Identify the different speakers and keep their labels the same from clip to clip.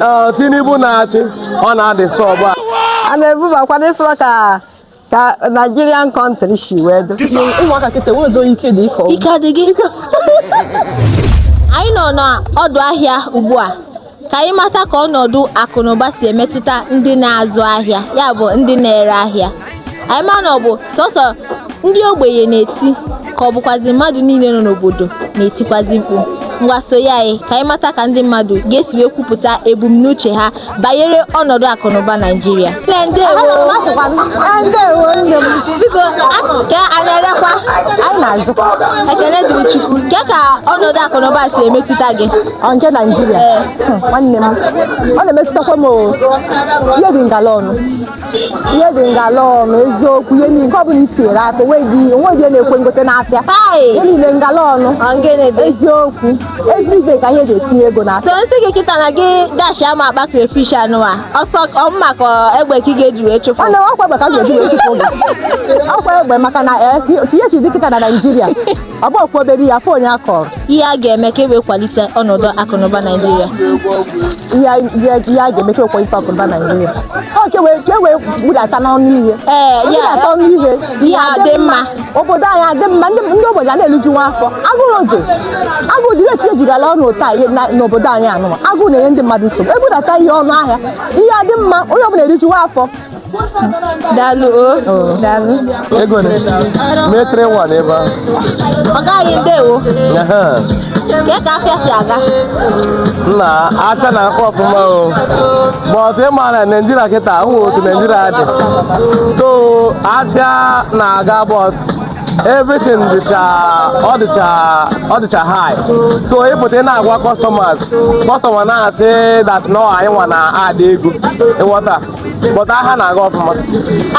Speaker 1: uh, Tinubu na-achị ọ na-adisturb a a na-ebubakwa n'ịsụwa ka ka Nigerian country si wee dị ụmụaka kịta nwezo ike dị ịkọ ike adịghị anyị nọ n'ọdụ ahịa ugbu a ka anyị mata ka ọnọdụ akụnụba si emetụta ndị na-azụ ahịa ya bụ ndị na-ere ahịa anyị ma na ọ bụ sọsọ ndị ogbenye na-eti ka ọ bụkwazi mmadụ niile nọ n'obodo na-etikwazi mkpu ngwa sonye anyị ka anyị mata ka ndị mmadụ ga-esi wee kwupụta ebumnuche ha banyere ọnọdụ akụnụba Naijiria Nne, ndewo. Biko, a- ka a na-erekwa anyị na-azụkwa ekele dịrị Chukwu kee ka ọnọdụ akụnụba si emetụta gị ọ nke naijiria Ee. nwanne m ọ na-emetụtakwa m o. ihe dị ngala ọnụ ihe dị ngala ọnụ eziokwu ihe niile ọ bụla i tinyere aka onweghị onweghị na-ekwe ngote n'afịa ihe niile ngala ọnụ eziokwu everyday ka ihe ji etinye ego na so nsị gị kịta na gị dashi ama akpa crayfish anụwa ọsọ ọ mma ka egbe ka ị ga-eji wee chụpụ ọnụ ọkwa egbe ka a ga-eji wee chụpụ ọkwa egbe maka na eh, ihe chi dị kịta na Naịjirịa agbakwobere ya afọ onye a kọrọ ihe a ga-eme ka e wee kwalite ọnọdụ akụnụba naijiria ihe a ga-eme ka e kwalite akụnụba naijiria ọ ka e wee budata n'ọnụ ihe budata ọnụ ihe ihe adị mma obodo anyị adị mma ndị ogbenye a na-eriju nwa afọ agụrụ dị agụụ dị ihe dị ngala ọnụ kịta n'obodo anyị anụwa agụụ na-enye ndị mmadụ nsogbu e budata ihe ọnụ ahịa ihe adị mma onye ọbụla eriju nwa afọ daalụ o daalụ ego ne metre nwa n'ebe ahụ ọ gaghị ndewo Ehe. ka ka afịa si aga nna afịa na-aga ọfụma o but ị ma na naijiria kịta ahụ otu naijiria dị so afịa na-aga but everything dịcha ọ dịcha ọ dịcha high so ị pụta ị na-agwa customers customer na-asị that na ọ anyị nwa na-add ego ị ghọta but ahịa na-aga ọfụma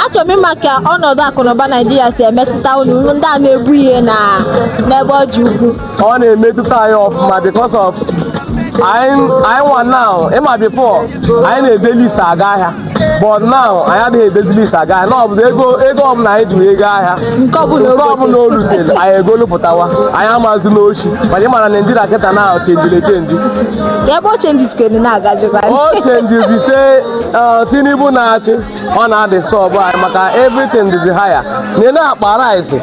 Speaker 1: achọrọ m ịma ka ọnọdụ akụnụba naijiria si emetụta unu ndị a na-ebu ihe na n'ebe ọ dị ukwu ọ na-emetụta anyị ọfụma because of anyị nwa now ị ma before anyị na-ede list aga ahịa but now anyị adịghị edezi list aga ahịa na ọ bụzi ego ego ọbụla anyị ji aga ahịa nke ọbụla o rutere anyị egolupụtawa anyị amazi n'ochi but ị ma na naijiria kịta na chenjiri chenji ebe o chenji skeni na-agazikwa o chenji because uh, Tinubu na-achị ọ na-adisturb anyị maka everything dịzi higher nee na akpa rice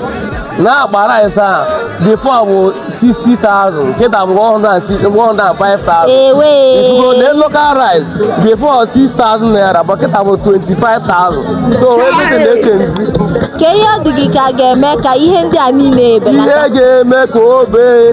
Speaker 1: na akpa rice a before bụ 60,000 kịta bụ 105,000 ehe ị fụgo na local rice before 6,000 naira bụ kịta bụ 25,000 so everything na-echenji kee ihe ọ dị gị ka a ga-eme ka ihe ndị a niile ebelata ihe ga-eme ka o bee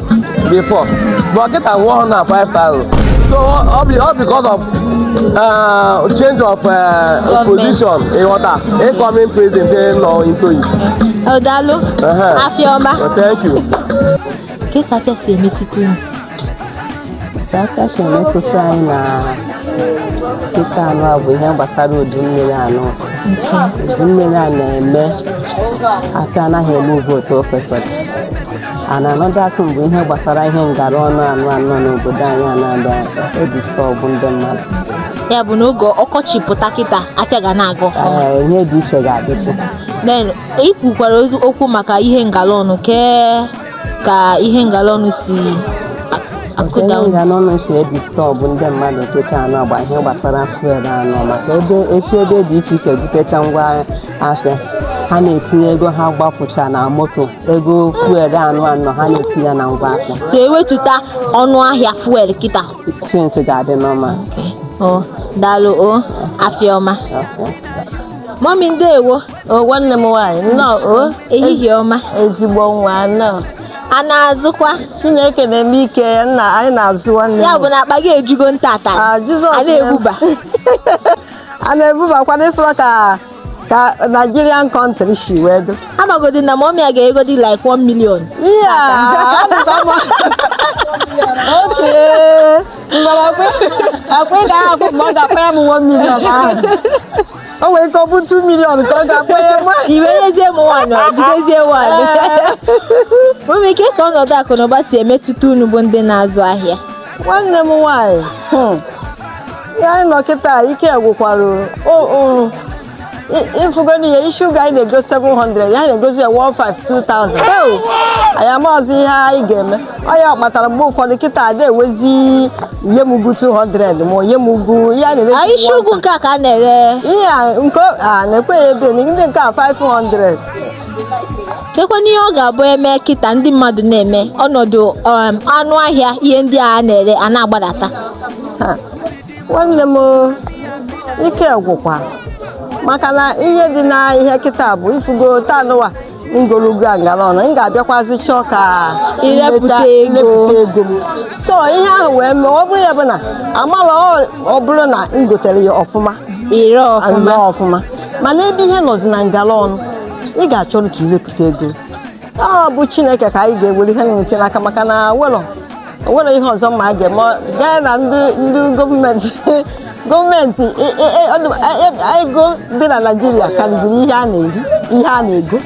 Speaker 1: before but kịta wụọ ha na 5000 so ọ bụ ọ because of uh, change of uh, position ịghọta incoming president dị nọ into it O daalụ, Ehe. Afịa ọma. Well, thank you Kee ka afịa si emetụta unu? Afịa si emetụta anyị na kịta nụwa bụ ihe gbasara udu mmiri a nọ. Udu mmiri a na-eme ka anaghị eme ego otu o kwesịrị. a na-anọdụ asụ mgbe ihe gbasara ihe ngara ọnụ nụwa nọ n'obodo anyị a na-adọ also edisturb ndị mmadụ ya bụ na oge ọkọchị pụta kịta afịa ga na-aga ọfụma Ee, ihe dị iche ga-adịtụ then ị kwukwarazị okwu maka ihe ngala ọnụ kee ka ihe ngala ọnụ si a- nke akụda ihe unu? ngara ọnụ si edisturb ndị mmadụ kịta anọ gba ihe gbasara fuel a nọ maka e jechaa ebe dị iche iche butecha ngwa ahịa ha na-etinye ego ha gbapụcha na moto ego fuel anụ anọ ha na-eti ya na ngwa ahịa so e wetuta ọnụ ahịa fuel kịta things ga-adị normal o daalụ o afịa ọma mọmi ndewo o nwanne m nwaanyị nnọọ o ehihie ọma ezigbo nwa nnọọ a na-azụkwa chineke na-eme ike ya na anyị na-azụ nwanne ya bụ na akpa gị ejugo ntata Ah, Jizọs a na-ebuba a na-ebubakwa na ị fụwa ka ka Nigerian country si wee dị amagodi na mọmi a ga-egodi like 1 million iya oke mgbarakwe akwa ị gaghị akwụ mgbe ọ ga-akpa ya m 1 million ahụ o nwere ike ọ bụ 2 million ka ọ ga-akpa ya mụ iwe nyezie m nwanyị ọ jidezie nwanyị mọmi kee ka ọnọdụ akụ na ụba si emetụta unu bụ ndị na-azụ ahịa nwanne m nwaanyị hmm. ihe anyị nọ kịta ike gwụkwara ịfụgonu ya isi ugu anyị na-ego 700 ya na-egozi ya 1,5 2,000 eo anyị amaghịzi ihe anyị ga-eme ọ ya kpatara mgbe ụfọdụ kịta ada ekwezi nye m ugu 200 ma ọ nye m ugu ihe a na-ere Anyị isi ugu nke a ka a na-ere ihe a nke a na-eke ya ebe ndị nke a 500 kekwana ihe ọ ga-abụ e mee kịta ndị mmadụ na-eme ọnọdụ um, ọnụ ahịa ihe ndị a na-ere a na-agbadata Ha, nwanne m ike gwụkwa maka na ihe dị na ihe kịta bụ ị fụgo taa nụwa m golu ugu a ngala ọnụ m ga-abịakwazi chọọ ka Irepụta nleta- ego. irepụta ego m so ihe ahụ wee mee ọ bụrụ ya bụ na amala ọ- ọ bụrụ na m gotere ya ọfụma ire ọfụma nnọọ ọfụma mana ebe ihe nọzi na ngala ọnụ ị ga-achọrọ ka iwepụta ego ọ bụ chineke ka anyị ga-ewere ihe na-enweta n'aka maka na welọ o nwere ihe ọzọ ma a ga-eme gaa na ndị ndị gọọmenti gọọmenti e- e- e- ọ dị- e- e- ego dị na naijiria karịziri ihe a na-eri ihe a na-ego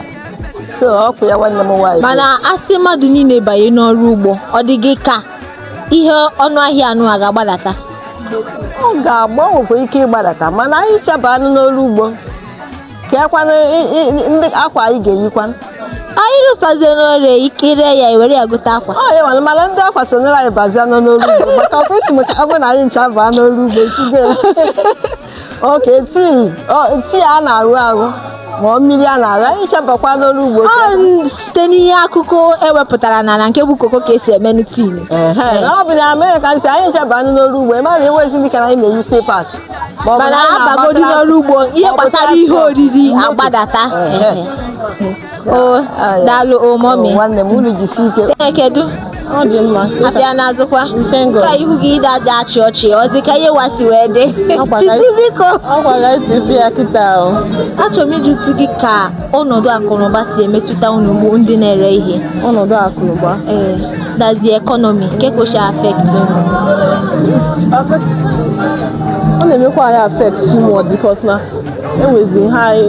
Speaker 1: so ọkụ ya nwanne m nwaanyị mana a sị mmadụ niile banye n'ọrụ ugbo ọ dị gị ka ihe ọnụ ahịa anụ a ga-agbadata ọ ga-enwekwa ike ịgbadata mana anyị ncha banye n'ọrụ ugbo keekwanụ i- i- i- ndị akwa anyị ga-eyikwa anyị rụtazie n'ọrụ ikiri ya ewere ya gote akwa ọ ya nwere mana ndị akwa sonyere anyị bazia nọ n'olu ugbo maka ọkụ isi maka ọ bụrụ na anyị ncha baa n'olu ugbo itige oke tii ọ- tii a na-aṅụ aṅụ ma ọ mmiri a na-aṅụ anyị ncha bakwa n'olu ugbo ọ n- site n'ihe akụkọ e wepụtara na na nke bụ koko ka e si emenụ tin Ehe, na ọ bụ na Amerịka a sị anyị ncha baa n'olu ugbo ị mara enwezi ndị ka na anyị na-eyi slippers mana a bagodi n'ọrụ ugbo ihe gbasara ihe oriri agbadata o daalụ o mummy nwanne m unu jisi ike ee kedu ọ dị mma afịa na-azụkwa Nkengo. ka ihu gị ịda aja achị ọchị ọzi ka ihe ụwa si wee dị Ọ gwara- chiti biko ọ gwara esi bịa kịta o achọrọ m ịjụtụ gị ka ọnọdụ akụnụba si emetụta unu bụ ndị na-ere ihe ọnọdụ akụnụba ee eh, that's the economy kee ka o si affect unu ọ na-emekwa anyị affect too much because na e nwezi high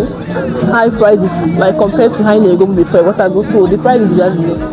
Speaker 1: high prices like compared to ihe anyị na-egobu before so the prices just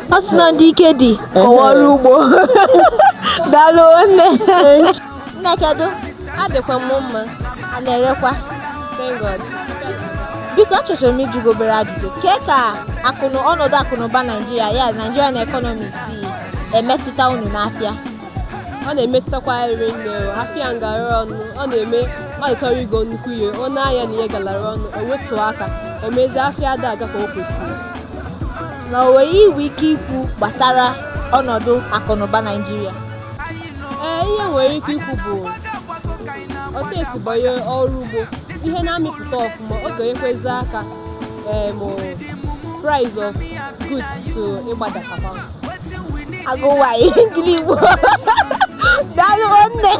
Speaker 1: ọ sị na ndị ike dị kọwa ọrụ ugbo daalụ nne nne kedu adịkwa m mma a na-erekwa thank God biko achọchọrọ m ịjụ gị obere ajụjụ kee ka akụnụ ọnọdụ akụnụba naijiria ya nigerian economy si emetụta unu n'afịa ọ na-emetụtakwa rinne afịa gara ọnụ ọ na-eme mmadụ chọrọ igo nnukwu ihe o nee anya na ihe galara ọnụ o wetuo aka o mezie afịa ada aga ka o kwesịrị na o nwere ihe i nwere ike ikwu gbasara ọnọdụ akụnụba Naịjirịa ee ihe m nwere ike ikwu bụ otu e si banye ọrụ ugbo ihe na-amịpụta ọfụma ọ ga-enyekwazi aka em, price of goods to ịgbadatakwa agụwa ihe ngili igbo daalụ nne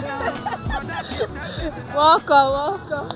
Speaker 1: welcome welcome